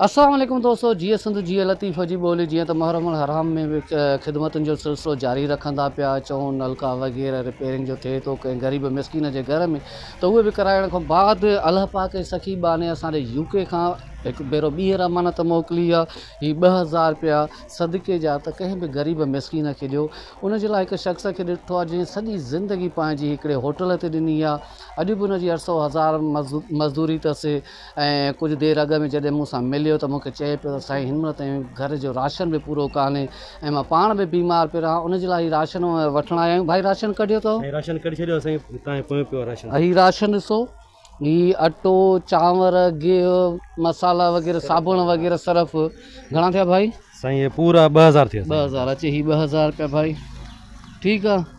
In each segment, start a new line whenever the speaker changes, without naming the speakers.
اسلام عليڪم دوستو جيئي سنڌ جيئي لطيف جي ٻولي جيئن ته محرم الحرام ۾ به خدمتن جو سلسلو جاري رکندا پيا اچون نلڪا وغيره رپيرنگ جو ٿئي ٿو ڪنهن غريب مسڪين جي گهر ۾ ته اهي به ڪرائڻ کان بعد الله پاڪ جي سخي بهاني اسان ڏي يو ڪي کان هڪ ڀيرو ٻيهر امانت موڪلي آ هي ٻه هزار رپيا صدقي جا ته ڪنهن به غريب مسڪين کي ڏيو ان جي لاء هڪ شخص کي ڏٺو آ جنهن سڄي زندگي پنهنجي هڪڙي هوٽل تي ڏني آ اڄ به ان جي اٺ سو هزار مزدوري تس ۽ ڪجهه دير اڳ ۾ جڏهن مون سان مليو ته مون کي چئي پيو ته سائين هنمهل تائين گهر جو راشن به پورو ڪانهي ۽ مان پاڻ به بيمار پيو رهان ان جي لاء هي راشن وٺڻ آيا آهيون ڀائي راشن ڪڍيو اٿئو. سائين راشن ڪڍي ڇڏيو سائين
تانجي پويون پيو آهي راشن. هي راشن ڏسو
هي اٽو چانور گيهه مصالحا وغيره صابڻ وغيره صرف گهڻا ٿيا ڀائي. سائين هي پورا ٻه
هزار ٿيا. ٻه هزار اچي هي ٻه هزار
رپيا ڀائي ٺيڪ آهي.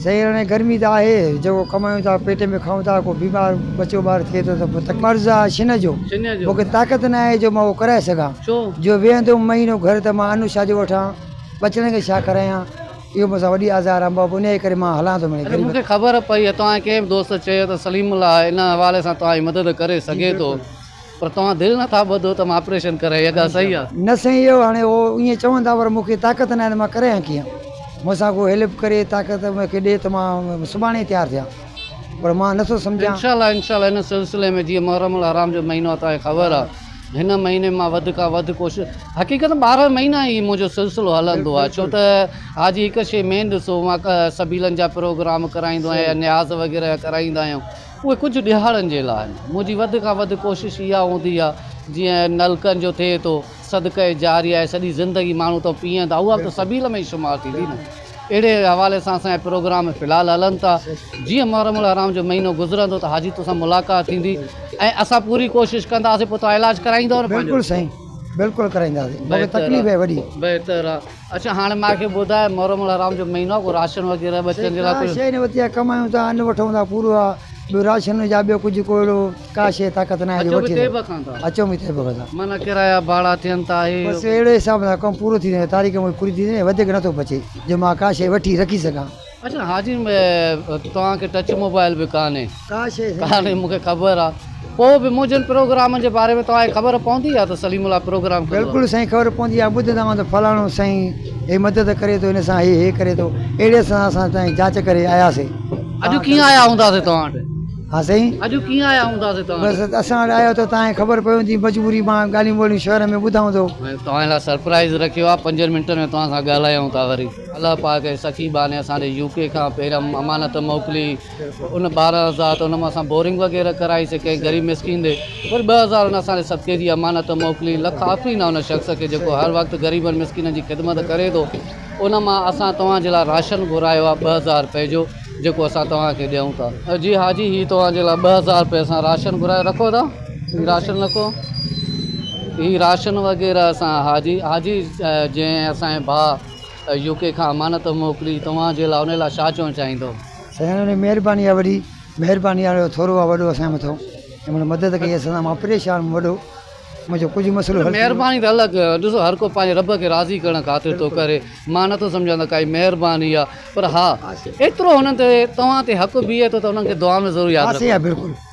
سائين هاڻي گرمي
ته آهي جيڪو ڪمايون ٿا پيٽ ۾ کائون ٿا ڪو بيمار ٻچو ٻار ٿئي ٿو ته پوء تڪليف مرض آهي شنهن جو مون کي طاقت نه آهي جو مان اهو ڪرائي سگهان جو ويهندوم مهينو گهر ته مان انو ڇا جو وٺان ٻچڙن کي ڇا کارايان اهو مون سان وڏي آزار آهي بابو انهيء ڪري مان هلان ٿو مڙئي غريب کي خبر پئي
ته توهان جي ڪنهن به دوست چيو ته سليم الله هن حوالي سان توهان جي مدد ڪري سگهي ٿو پر توهان دل نه ٿا ٻڌو ته مان آپريشن ڪرايان اها ڳالهه صحيح آهي. نه سائين اهو هاڻي اهو ائين
چون ٿا پر مون کي طاقت ناهي ته مان ڪرايان ڪيئن مون سان ڪو هيلپ ڪري طاقت مون کي ڏي ته مان سڀاڻي ئي تيار ٿيان پر مان نه ٿو سمجهان. انشاء الله انشاء الله ان سلسلي
۾ جيئن محرم الحرام جو مهينو آهي توهان کي خبر آهي هن مهيني مان وڌ کان وڌ ڪوشش حقيقت ٻارهن مهينا هي منهنجو سلسلو هلندو آهي ڇو ته حاجي هڪ شيء مين ڏسو مان سبيلن جا پروگرام ڪرائيندو آهيان نياز وغيره جا ڪرائيندا آهيون اهي ڪجهه ڏهاڙن جي لاء آهن. منهنجي وڌ کان وڌ ڪوشش اها هوندي آهي، جيئن نلڪن جو ٿئي ٿو، صدقه جاريه آهي، سڄي زندگي ماڻهو تئو پيئندا، اها به ته سبيل ۾ ئي شمار ٿيندي نه. اهڙي حوالي سان اسان جا پروگرام في الحال هلن ٿا. جيئن محرم الحرام جو مهينو گذرندو ته حاجي توسان ملاقات ٿيندي ۽ اسان پوري ڪوشش ڪنداسين، پوء توهان علاج ڪرائيندؤ نه پنهنجو. بلڪل سائين بلڪل
ڪرائينداسين، مون کي تڪليف آهي وڏي. بهتر آهي.
اڇا هاڻي مان کي ٻڌاء محرم الحرام جو مهينو آ ڪو راشن وغيره ٻچن جي لاء ڪجهه. سيٺ ڪا شيء نه وتيا ڪمايون
ٿا ان وٺون ٿا پورو آ ٻيو راشن هجا ٻيو ڪجهه ڪو اهڙو ڪا شيء طاقت ناهي جو وٺي سگهون اچو به طيبه کان ٿا اچون به طيبه کان ٿا. معنيٰ ڪرايا ڀاڙا
ٿين ٿا هي بس اهڙي حساب سان
ڪم پورو ٿيندو وڃي تاريخ مون جي پوري ٿيندي وڃي وڌيڪ نٿو بچي جو مان ڪا شيء وٺي رکي سگهان. اچا حاجي
توهان کي ٽچ موبائل به ڪانهي ڪانهي
مون کي خبر
آ پو به منهنجن پروگرامن جي باري ۾ توهان کي خبر پوندي آ ته سليم الله پروگرام ڪندو آ بلڪل سائين خبر پوندي
آ ٻڌندا هوندا فلاڻو سائين هي مدد ڪري ٿو هن سان هي هي ڪري ٿو اهڙي سان اسان تائين جاچ ڪري آيا سي اڄ ڪيئن آيا
هوندا سي توهان وٽ ها سائين اڄ
ڪيئن
آيا هوندا سي توهان وٽ بس اسان وٽ آيو ته
توهان کي خبر پوندي مجبوري مان ڳالهيون ٻولهيون شهر ۾ ٻڌائون ٿو توهان لاء سرپرائز
رکيو آ پنجن منٽن ۾ توهان سان ڳالهايون ٿا وري الله پاڪ ۽ سخي بانه اسان ڏي يو ڪي کان پيرم امانت موڪلي ان ٻارهن هزار ته ان مان اسان بورنگ وغيره ڪرائي سي ڪنهن غريب مسڪين ڏي وري ٻه هزار ان اسان ڏي صدقي جي امانت موڪلي لک آفرين آ ان شخص کي جيڪو هر وقت غريبن مسڪينن جي خدمت ڪري ٿو ان مان اسان توهان جي لاء راشن گهرايو آ ٻه هزار رپئي جو جيڪو اسان توهان کي ڏيون ٿا. جي حاجي هي توهان جي لاء ٻه هزار رپئي اسان راشن گهرايو رکو ٿا هي راشن رکو هي راشن وغيره اسان حاجي حاجي جنهن اسان جي ڀاء يو ڪي کان امانت موڪلي توهان جي لا ان لا شا چوڻ چاهيندو. سائين انهي
مهرباني آ وڏي. مهرباني آ جو ٿورو آ وڏو اسان جي مٿو جنهن مهل مدد ڪئي اسان سان مان پريشان هئم وڏو منهنجو ڪجهه مسئلو حل ٿي ويو. مهرباني ته الڳ ڏسو هر
ڪو پنهنجي رب کي راضي ڪرڻ خاطر ٿو ڪري مان نٿو سمجهان ته ڪائي مهرباني آ پر ها ايترو هنن تي توهان تي حق بيهي ٿو ته انهن کي دعا ۾ ضرور ياد رکو.